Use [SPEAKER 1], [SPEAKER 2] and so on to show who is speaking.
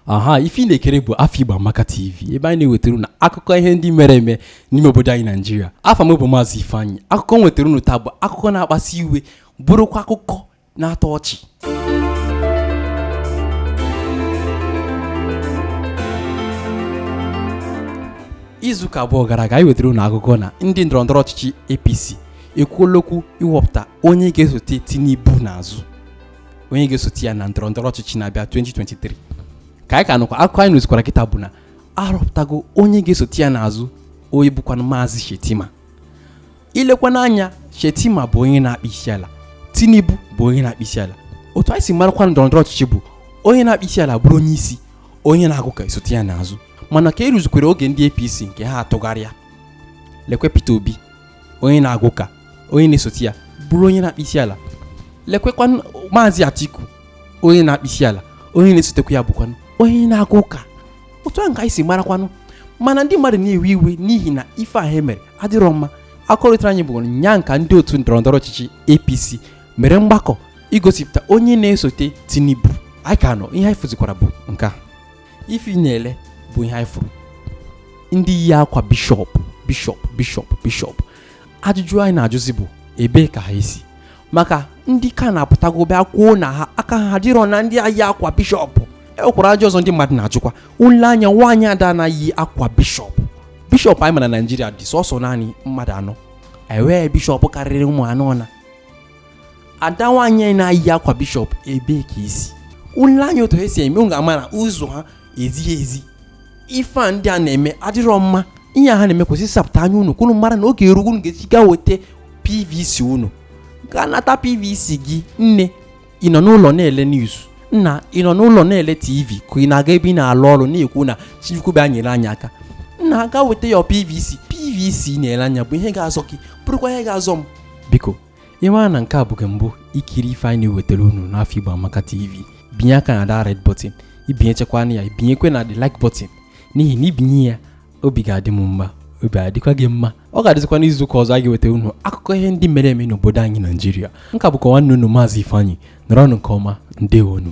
[SPEAKER 1] aha ife ị na-ekiri bụ afọ igbo amaka tv ebe anyị na-ewetara unu akụkọ ihe ndị mere eme n'ime obodo anyị naijiria afa m bụ maazị ifeanyị akụkọ m wetara unu taa bụ akụkọ na-akpasi iwe bụrụkwa akụkọ na-atọ ọchị izuụka abụọ gara aga anyị wetara unu akụkọ na ndị ndọrọndọrọ ọchịchị APC ekwuola okwu iwepụta onye ga-esote Tinubu n'azụ onye ga-esote ya na ndọrọndọrọ ọchịchị na-abịa 2023 ka anyị ka nọkwa akụkọ anyị nụzikwara kịta bụ na a rọpụtago onye ga-esote ya n'azụ onye bụkwanụ Maazị Shettima i lekwa anya Shettima bụ onye na-akpọ isi ala Tinubu bụ onye na-akpọ isi ala otu anyị si marakwa ndọrọ ndọrọ ọchịchị bụ onye na-akpọ isi ala bụrụ onye isi onye na-aga ụka esote ya n'azụ mana ka e ruzikwere oge ndị APC nke ha atụgharịa lekwe Peter Obi onye na-aga ụka onye na-esote ya bụrụ onye na-akpọ isi ala lekwekwa maazị Atiku onye na-akpọ isi ala onye na-esotekwa ya bụkwanụ onye na-aga ụka otu ahụ ka anyị si marakwanụ mana ndị mmadụ na-ewe iwe n'ihi na ife ahụ e mere adịrọ mma akụkọ rutere anyị bụ ụnyaa ka ndị otu ndọrọndọrọ ọchịchị apc mere mgbakọ igosipụta onye na-esote tinubu anyị ka nọ ihe anyị fụzikwara bụ nke a ife ị na-ele bụ ihe anyị fụrụ ndị yi akwa bishọp bishọp bishọp bishọp ajụjụ anyị na-ajụzi bụ ebee ka ha si maka ndị CAN apụtago bịa kwuo na ha aka ha adịrọ na ndị a yi akwa bishọp e nwekwara ajụjụ ọzọ ndị mmadụ na-ajụkwa i lee anya nwaanyị ada na-ayi akwa bishọp bishọp anyị ma na naijiria dị sọsọ naanị mmadụ anọ e nwee bishọp karịrị ụmụ anọ na ada nwaanyị na-ayi akwa bishọp ebee ka o si i lee anya otu ha si eme ị ga-ama na ụzọ ha ezighị ezi ife a ndị a na-eme adịrọ mma ihe a ha na-eme kwesịrị ịsapụta anya unu ka unu mara na oge erugo unu ga-eji gaa weta pvc unu gaa nata pvc gị nne ị nọ n'ụlọ na-ele news nna ị nọ n'ụlọ na-ele tv ka ị na-aga ebe ị na-alụ ọrụ na-ekwu na chukwu bịa nyere anyị aka nna gaa weta ya pvc pvc ị na-ele anya bụ ihe ga-azọ gị bụrụkwa ihe ga-azọ m biko ị mara na nke a bụ gị mbụ ikiri ife anyị na-ewetara unu n'afọ Igbo Amaka TV binye aka na the red button i binyechakwa na ya i binyekwa na the like button n'ihi na i binye ya obi ga-adị m mma obi adịkwa gị mma ọ ga-adịzikwa n'izu ụka ọzọ a ga-ewetara unu akụkọ ihe ndị mere eme n'obodo anyị naijiria nka bụkwa nwanne unu maazị ifeanyị nọrọnụ nke ọma ndewonu